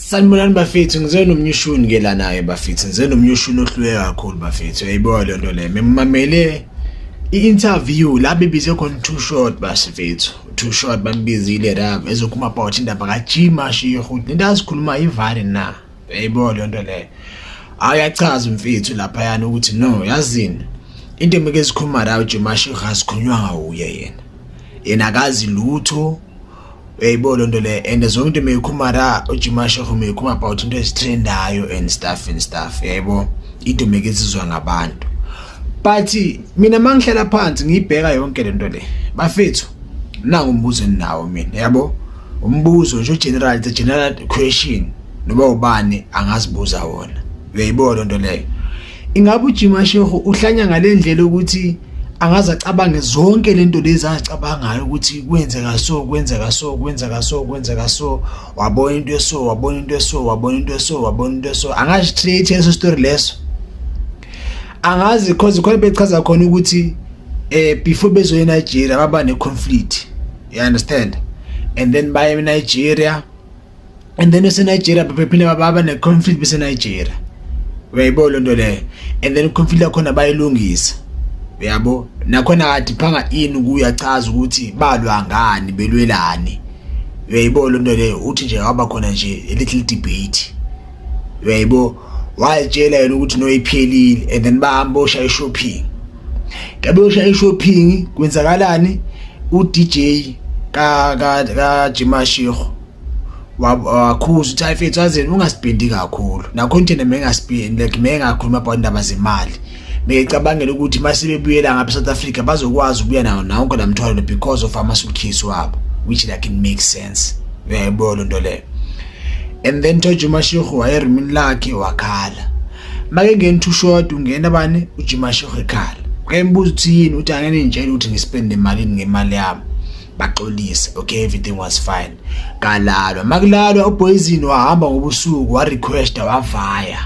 Sanibonani bafethu ngize nomnyushuni ke la naye bafethu ngize nomnyushuni ohlule kakhulu bafethu yayiboa le nto le memamele i-interview la bebize khona too short bafethu too short bambizile la ezokhuluma about indaba kajima shiyo futhi into azikhuluma ivale na yayiboa le nto le ayachaza umfethu lapha yana ukuthi no yazini into emike zikhuluma la ujima shiyo asikhulunywa ngawuye yena yena akazi lutho uyayibo loo nto leyo and zonke into meyikhuma ra ujimasheho meyikhuma about into ezitrendayo and stuff and stuff uyayibo idomeke izizwa ngabantu but mina ma ngihlala phansi ngiyibheka yonke le nto le bafethu nangu umbuzo eninawo mina yabo umbuzo nje ugeneral the general question noba ubani angazibuza wona uyayibo loo nto leyo ingabe ujima shehu uhlanya ngalendlela ukuthi angaze acabange zonke lento lezi azicabangayo ukuthi kwenzeka so kwenzeka so kwenzeka so kwenzeka so wabona into eso wabona into eso wabona into eso wabona into eso angazi create eso story leso angazi because khona bechaza khona ukuthi eh before bezo eNigeria baba ne conflict you understand and then baye eNigeria and then useNigeria baphinde baba ne-conflict beseNigeria uyayibona lento leyo and then i-conflict yakhona bayilungisa uyabo nakhona kade phanga ini kuyachaza ukuthi balwa ngani belwelani uyayibona lento leyo uthi nje waba khona nje a little debate uyayibo wayitshela yena ukuthi noyiphelile and then bahamba oshaya shopping Ngabe usha e-shopping kwenzakalani uDJ ka ka ka Jimashiho wakhuza uthi ayifethu azeni ungasibhindi kakhulu nakho nje mengasibhindi like mengakhuluma about indaba zemali becabangela ukuthi masebebuyela ngapha South Africa bazokwazi ukuya nawo nonke namthwalo because of ama suitcase wabo which like it makes sense uyayibona into leyo and then George Mashihu wayerumini lakhe wakhala make ngeni two short ungena bani ujimasho ekhala ngayimbuza ukuthi yini uthi angene ngitshela ukuthi ngispende malini ngemali yami baxolise okay everything was fine kalalwa makulalwa uboyizini wahamba ngobusuku wa requesta wavaya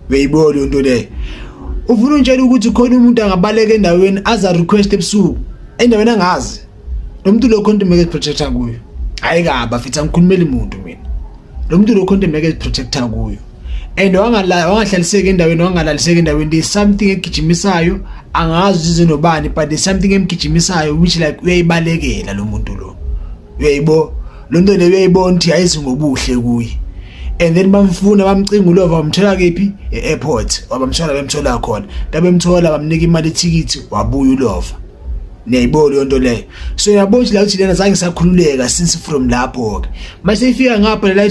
beyibona into le ufuna untshela ukuthi khona umuntu angabaleka endaweni aza request ebusuku endaweni angazi lo muntu lo content make protector kuyo hayi kaba fithi angikhulumeli muntu mina lo muntu lo content make protector kuyo and wangahlaliseki endaweni wangalaliseki endaweni there's something egijimisayo angazi izinobani but there's something emgijimisayo which like uyayibalekela lo muntu lo uyayibo lo nto le uyayibona ukuthi ayizi ngobuhle kuye and then bamfuna bamcinga ulova wamthola kephi e-airport wabamthola bemthola khona tabemthola bamnika imali ethikithi wabuya ulova niyayibona leyo nto leyo so yabona ukuthi la ukuthi lena zange sakhululeka since from lapho-ke uma seyifika ngapha lela